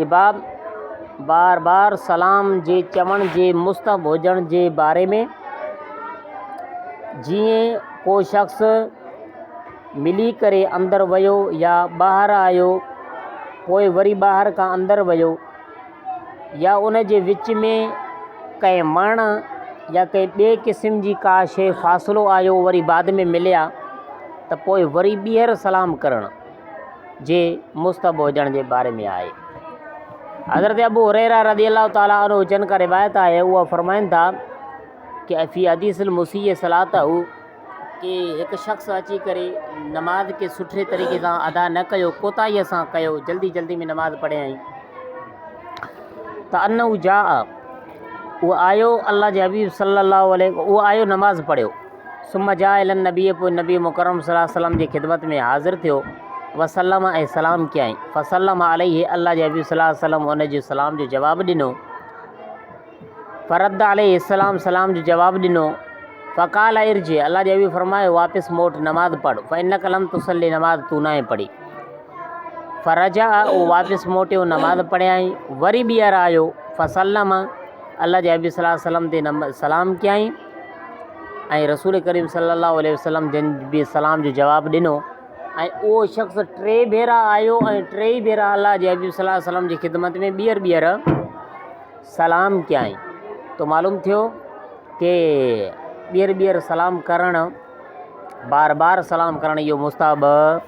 احباب بار بار سلام جي چوڻ جي مستحب هجڻ جي باري ۾، جيئن ڪو شخص ملي ڪري اندر ويو يا ٻاهر آيو پوء وري ٻاهر کان اندر ويو يا ان جي وچ ۾ ڪنهن وڻ يا ڪنهن ٻئي قسم جي ڪا شيء فاصلو آيو وري بعد ۾ مليا ته پوء وري ٻيهر سلام ڪرڻ جي مستحب هجڻ جي باري ۾ آهي. حضرت ابو هريره رضي الله تعالٰي عنه جن کان روايت آهي هو فرمائن ٿا ته في حديث المسيء صلاته ڪي هڪ شخص اچي ڪري نماز کي سٺي طريقي سان ادا نه ڪيو ڪوتاهي سان ڪيو جلدي جلدي ۾ نماز پڙهيائين ته انه جاء اهو آيو الله جي حبيب صلي الله عليه اهو آيو نماز پڙهيو ثم جاء الي النبي پوء نبي مڪرم صلي الله عليه وسلم جي خدمت ۾ حاضر ٿيو، وسلم ۽ سلام ڪيائين، فسلم عليه الله جي حبيب صلي الله عليه وسلم ان جي سلام جو جواب ڏنو، فرد عليه السلام سلام جو جواب ڏنو، فقال ارجع الله جي حبيب فرمايو واپس موٽ نماز پڙھ، فانک لم تصلي نماز تون ناهي پڙھي، فرجع او واپس موٽيو نماز پڙھيائين، وري ٻيھر آيو، فسلم الله جي حبيب صلي الله عليه وسلم تي سلام ڪيائين، ۽ رسول ڪريم صلي الله عليه وسلم جن به سلام جو جواب ڏنو ۽ اهو شخص ٽي ڀيرا آيو ۽ ٽيئي ڀيرا الله جي حبيب صلي الله عليه وسلم جي خدمت ۾ ٻيهر ٻيهر سلام ڪيائين تو معلوم ٿيو کہ ٻيهر ٻيهر سلام ڪرڻ بار بار سلام ڪرڻ اهو مستحب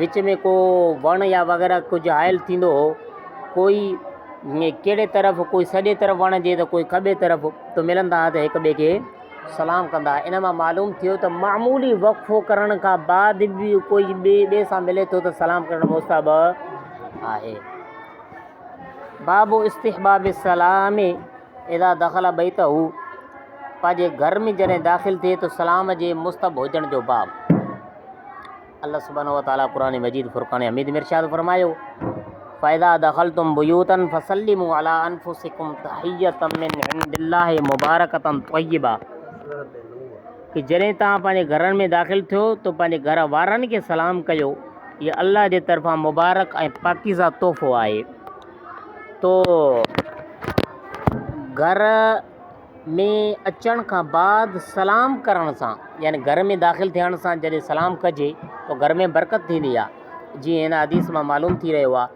وچ ۾ ڪو وڻ يا وغيره ڪجهه هائل ٿيندو هو، ڪوئي ڪهڙي طرف، ڪوئي سڄي طرف وڻ جي ته ڪوئي کٻي طرف ته ملندا ها ته هڪ ٻئي کي سلام ڪندا ها. ان مان معلوم ٿيو ته معمولي وقفو ڪرڻ کان بعد به ڪوئي ٻئي ٻئي سان ملي ٿو ته سلام ڪرڻ مستحب آهي. باب استحباب السلام اذا دخل بيته، پنهنجي گهر ۾ جڏهن داخل ٿئي ته سلام جي مستحب هجڻ جو باب. الله سبحانه وتعاليٰ قرآن مجيد فرقان حميد ۾ ارشاد فرمايو فاذا دخلتم بيوتا فسلموا على انفسكم تحيه من عند الله مبارڪه طيبه کہ جڏهن تان پنهنجي گھرن ۾ داخل ٿيو تو پنهنجي گھر وارن کي سلام ڪيو هي الله جي طرفان مبارڪ ۽ پاڪيزه تحفو آهي تو گھر ۾ اچڻ کان بعد سلام ڪرڻ سان يعني گهر ۾ داخل ٿيڻ سان جڏهن سلام ڪجي ته گهر ۾ برڪت ٿيندي آهي جيئن هن حديث مان معلوم ٿي رهيو آهي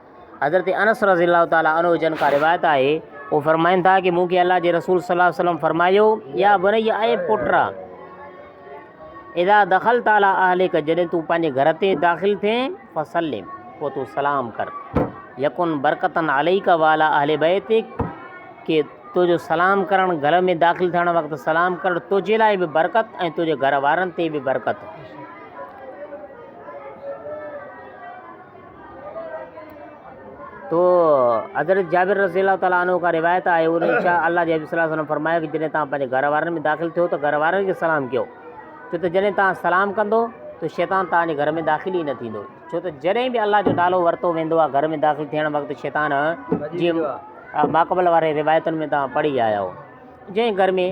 حضرت انس رضي الله تعالٰي عنه جن کان روايت آهي هو فرمائن ٿا ڪي مون کي الله جي رسول صلي الله عليه وسلم فرمايو يا بني اي پٽ اذا دخلت على اهلك جڏهن تون پنهنجي گهر تي داخل ٿين فسلم پوء تون سلام ڪر يڪن برڪتن عليك والا اهل بيتك ڪي تو جو سلام ڪرڻ، گهر ۾ داخل ٿيڻ وقت سلام ڪرڻ تنهنجي لاء به برڪت ۽ تنهنجي گهر وارن تي به برڪت. تو حضرت جابر رضي الله تعالٰي عنه کان روايت آهي ان شاء الله جي حبيب صلي الله علیه وسلم فرمايو ته جڏهن توهان پنهنجي گهر وارن ۾ داخل ٿيو ته گهر وارن کي سلام ڪيو ڇو ته جڏهن توهان سلام ڪندو ته شيطان توهان جي گهر ۾ داخل ئي نه ٿيندو ڇو ته جڏهن به الله جو نالو ورتو ويندو آهي گهر ۾ داخل ٿيڻ وقت شيطان جي ماقبل وارين روايتن ۾ توهان پڙهي آيا آهيو. جنهن گهر ۾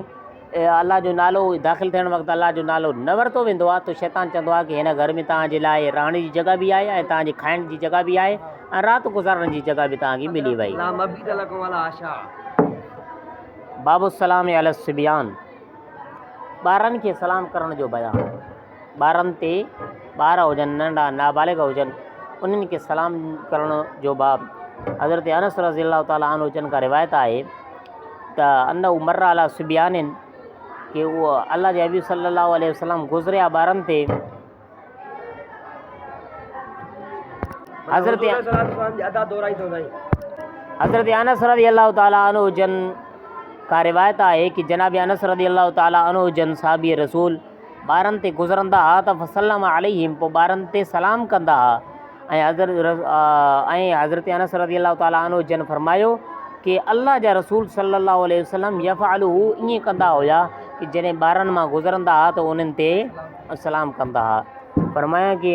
الله جو نالو داخل ٿيڻ وقت الله جو نالو نه ورتو ويندو آهي ته شيطان چوندو آهي ته هن گهر ۾ توهان جي لاء رهڻ جي جڳهه به آهي ۽ توهان جي کائڻ جي جڳهه به آهي ۽ رات گذارڻ جي جڳهه به توهان کي ملي وئي. باب السلام علی الصبيان، ٻارن کي سلام ڪرڻ جو بيان. ٻارن تي ٻار هجن ننڍا نابالغ هجن انهن کي سلام ڪرڻ جو باب حضرت انس رضي الله تعالٰي عنه جن کان روايت آهي ته ان عمر علا سبيان ڪي هو الله جي حبيب صلي الله عليه وسلم گذريا ٻارن تي حضرت حضرت انس رضي الله تعالٰي عنه جن کان روايت آهي ڪي جناب انس رضي الله تعالٰي عنه جن صحابي رسول ٻارن تي گذرندا ها ته فسلم عليهم پوء ٻارن تي سلام ڪندا ها ۽ حضرت ۽ حضرت انس رضي الله تعالٰي عنه جن فرمايو ڪي الله جا رسول صلي الله عليه وسلم يفعل هو ائين ڪندا هيا ڪي جڏهن ٻارن مان گذرندا ها ته انهن تي سلام ڪندا ها فرمايان ڪي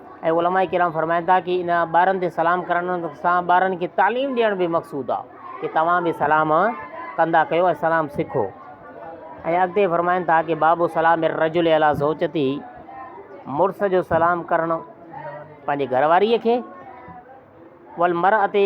۽ علماء ڪرام فرمائن ٿا ڪي ان ٻارن تي سلام ڪرڻ سان ٻارن کي تعليم ڏيڻ به مقصود آ ڪي توهان به سلام ڪندا ڪيو ۽ سلام سکو ۽ اڳتي فرمائن ٿا ڪي باب سلام الرجل علا زوجتي مڙس جو سلام ڪرڻ پنهنجي گهر واريء کي والمرأة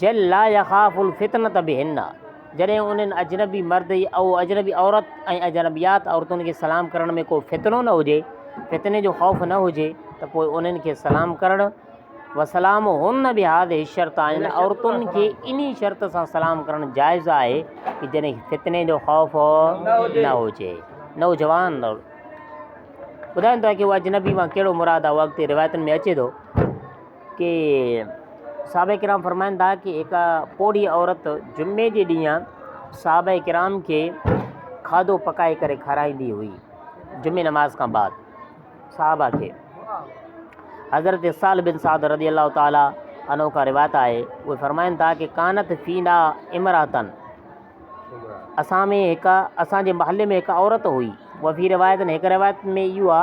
جل لا يخاف الفتنة بهن، جڏهن انهن اجنبي مرد ۽ اجنبي عورت ۽ اجنبيات عورتن کي سلام ڪرڻ ۾ ڪو فتنو نه هجي، فتني جو خوف نه هجي، ته پوء انهن کي سلام ڪرڻ، وسلامهن بهذه الشرطة، انهن عورتن کي انهي شرط سان سلام ڪرڻ جائز آهي ته جڏهن کي فتني جو خوف نه هجي. نوجوان ٻڌائين ٿا ته اهو اجنبي مان ڪهڙو مراد آهي، اهو اڳتي روايتن ۾ اچي ٿو. ڪي صحابه ڪرام فرمائن ٿا ڪي هڪ پوڙهي عورت جمعي جي ڏينهن صحابه ڪرام کي کاڌو پڪائي ڪري کارائيندي هئي جمعي نماز کان بعد صحابه کي حضرت سال بن سعد رضي الله تعاليٰ انو کا روایت آهي اهي فرمائن ٿا ڪي ڪانت فينا امراتن اسان ۾ هڪ اسان جي محلي ۾ هڪ عورت هئي وفي روايتن هڪ روايت ۾ اهو آ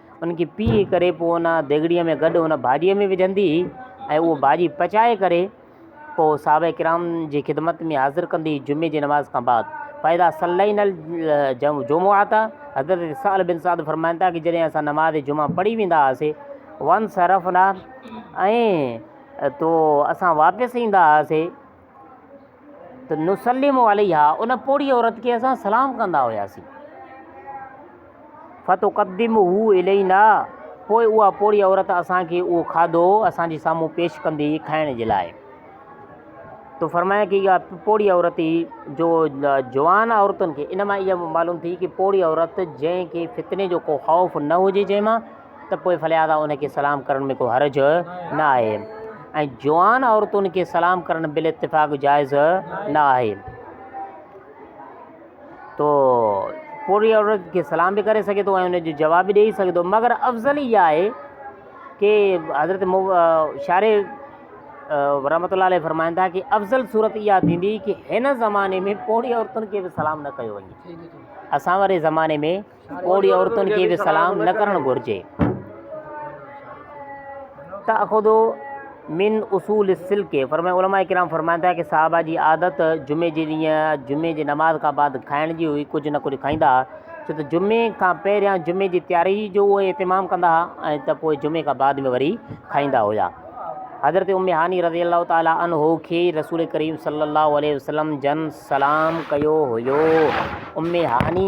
ان کي پيهي ڪري پوء ان ديڳڙيء ۾ گڏ ان ڀاڄيء ۾ وجهندي هئي ۽ اهو ڀاڄي پچائي ڪري پوء صحابه ڪرام جي خدمت ۾ حاضر ڪندي هئي جمعي جي نماز کان بعد فاذا صلينا الجمعة حضرت سهل بن سعد فرمائن ٿا ته جڏهن اسان نماز جمعه پڙهي ويندا هئاسي وانصرفنا ۽ تو اسان واپس ايندا هئاسي ته نسلم عليها ان پوڙهي عورت کي اسان سلام ڪندا هياسين فتقدمه الينا پوء اها پوڙهي عورت اسان کي اهو کاڌو اسان جي سامهون پيش ڪندي هئي کائڻ جي لاء تو فرمايا ڪي اها پوڙهي عورت ئي جو جوان عورتن کي ان مان اها معلوم ٿي ڪي پوڙهي عورت جنهن کي فتني جو ڪو خوف نه هجي جنهن مان ته پوء فلهذا انهن کي سلام ڪرڻ ۾ ڪو حرج نه آهي ۽ جوان عورتن کي سلام ڪرڻ بالاتفاق جائز نه آهي. تو پورهيي عورت کي سلام به ڪري سگهي ٿو ۽ ان جو جواب به ڏيئي سگهي ٿو مگر افضل اها آهي ڪي حضرت شاري رحمت الله عليه فرمائن ٿا ڪي افضل صورت اها ٿيندي ڪي هن زماني ۾ پورهيي عورتن کي به سلام نه ڪيو وڃي اسان واري زماني ۾ پوڙهي عورتن کي به سلام نه ڪرڻ گهرجي. تاخذ من اصول السلڪ فرمائي علماء ڪرام فرمائن ٿا ڪه صحابه جي عادت جمعي جي ڏينهن جمعي جي نماز کان بعد کائڻ جي هئي ڪجهه نه ڪجهه کائيندا ها ڇو ته جمعي کان پهريان جمعي جي تياري جو اهي اهتمام ڪندا ها ۽ ته پوء جمعي کان بعد ۾ وري کائيندا هيا حضرت ام هاني رضي الله تعالي عنه کي رسول ڪريم صلي الله عليه وسلم جن سلام ڪيو هيو ام هاني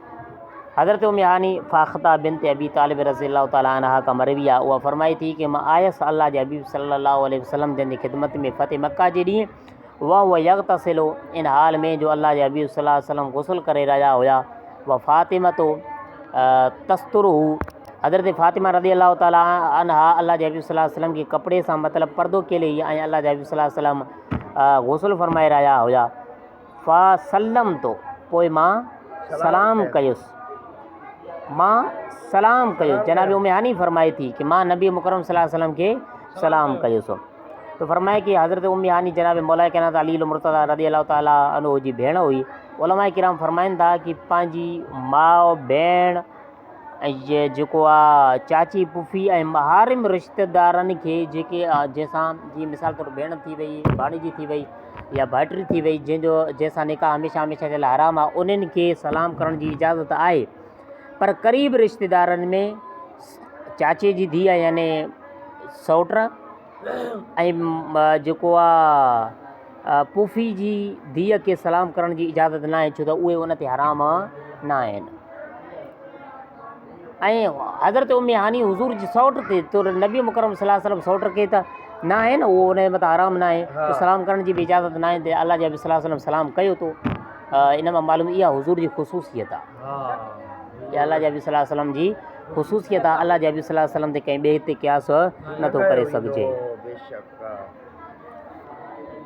حضرت ام هاني فاخته بنت ابي طالب رضي الله تعالٰي عنها کان مروي آهي اها فرمائي ٿي ته مان آيس الله جي حبيب صلي الله عليه وسلم جن جي خدمت ۾ فتح مڪه جي ڏينهن وهو يغتسل ان حال ۾ جو الله جي حبيب صلي الله عليه وسلم غسل ڪري رهيا هيا وفاطمه تستره حضرت فاطمه رضي الله تعالٰي عنها الله جي حبيب صلي الله عليه وسلم کي ڪپڙي سان مطلب پردو کيلي هئي ۽ الله جي حبيب صلي الله عليه وسلم غسل فرمائي رهيا هيا فسلمتو، پوء مان سلام ڪيس. مان سلام ڪيس. جناب ام هاني فرمائي ٿي ته مان نبي مڪرم صلي الله عليه وسلم کي سلام ڪيس. ته فرمائي ٿي ته حضرت ام هاني جناب مولائي ڪائنات علي المرتضيٰ رضي الله تعالٰي عنه جي ڀيڻ هئي. علماء ڪرام فرمائن ٿا ته پنهنجي ماء، ڀيڻ، اهي جيڪو آ چاچي پڦي ۽ محارم رشته دارن کي جيڪي آ جنهن سان جي مثال طور ڀيڻ ٿي وئي ڀاڻيجي ٿي وئي يا ڀائٽري ٿي وئي جنهن جو جنهن سان نڪاح هميشه هميشه جي لاء حرام آهي انهن کي سلام ڪرڻ جي اجازت آهي پر قريب رشته دارن ۾ چاچي جي ڌيء يعنی سئوٽ ۽ جيڪو آ پوڦي جي ڌيء کي سلام ڪرڻ جي اجازت ناهي ڇو ته اهي ان تي حرام ناهن. ۽ حضرت ام هاني حضور جي سئوٽ تي تر نبي مڪرم صلي الله عليه وسلم سئوٽ کي ته ناهي نه اهو ان جي مٿان حرام ناهي ته سلام ڪرڻ جي به اجازت ناهي ته الله جي نبي صلي الله عليه وسلم سلام ڪيو تو ان مان معلوم اها حضور جي خصوصيت آ اها الله جي نبي صلي الله عليه وسلم جي خصوصيت آ، الله جي حبيب صلي الله عليه وسلم تي ڪنهن ٻئي تي قياس نه ٿو ڪري سگهجي.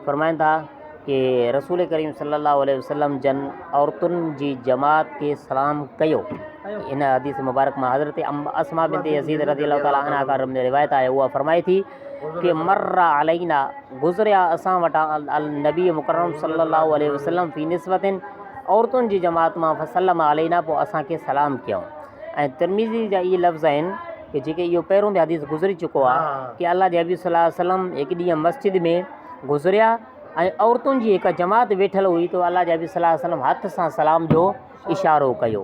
فرمائن ٿا ڪي رسول ڪريم صلي الله عليه وسلم جن عورتن جي جماعت کي سلام ڪيو. ان حديث مبارڪ مان حضرت ام اسماء بنت يزيد رضي الله تعالٰي عنها کان روايت آهي اها فرمائي ٿي ڪي مر علينا گذريا اسان وٽان النبي مڪرم صلي الله عليه وسلم في نسوتن عورتن جي جماعت مان فسلم علينا پوء اسان کي سلام ڪيائون. ۽ ترمذي جا اهي لفظ آهن ته جيڪي اهو پهريون به حديث گذري چڪو آهي ها. ته الله جي حبيب صلي الله عليه وسلم هڪ ڏينهن مسجد ۾ گذريا ۽ عورتن جي هڪ جماعت ويٺل هئي ته الله جي حبيب صلي الله عليه وسلم هٿ سان سلام جو اشارو ڪيو.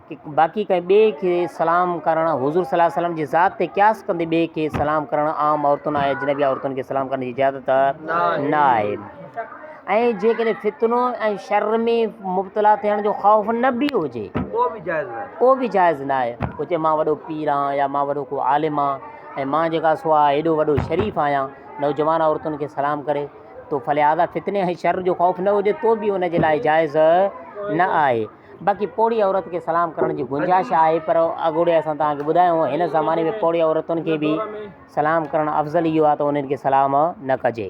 باقي ڪنهن ٻئي کي سلام ڪرڻ حضور صلّي اللّٰه عليه وسلّم جي ذات تي قياس ڪندي ٻئي کي سلام ڪرڻ عام عورتن ۽ اجنبي عورتن کي سلام ڪرڻ جي اجازت نه آهي ۽ جيڪڏهن فتنو ۽ شر ۾ مبتلا ٿيڻ جو خوف نه به هجي پوء به جائز نه آهي هجي مان وڏو پير آهيان يا مان وڏو ڪو عالم آهيان ۽ مان جيڪا سو آهيان ايڏو وڏو شريف آهيان نوجوان عورتن کي سلام ڪري تو فلهذا فتني ۽ شر جو خوف نه هجي تو به ان جي لاء جائز نه آهي باقي پوڙهي عورت کي سلام ڪرڻ جي گنجائش آهي پر اڳوڻي اسان توهان کي ٻڌايو هو هن زماني ۾ پوڙهي عورتن کي به سلام ڪرڻ افضل اهو آهي ته انهن کي سلام نه ڪجي.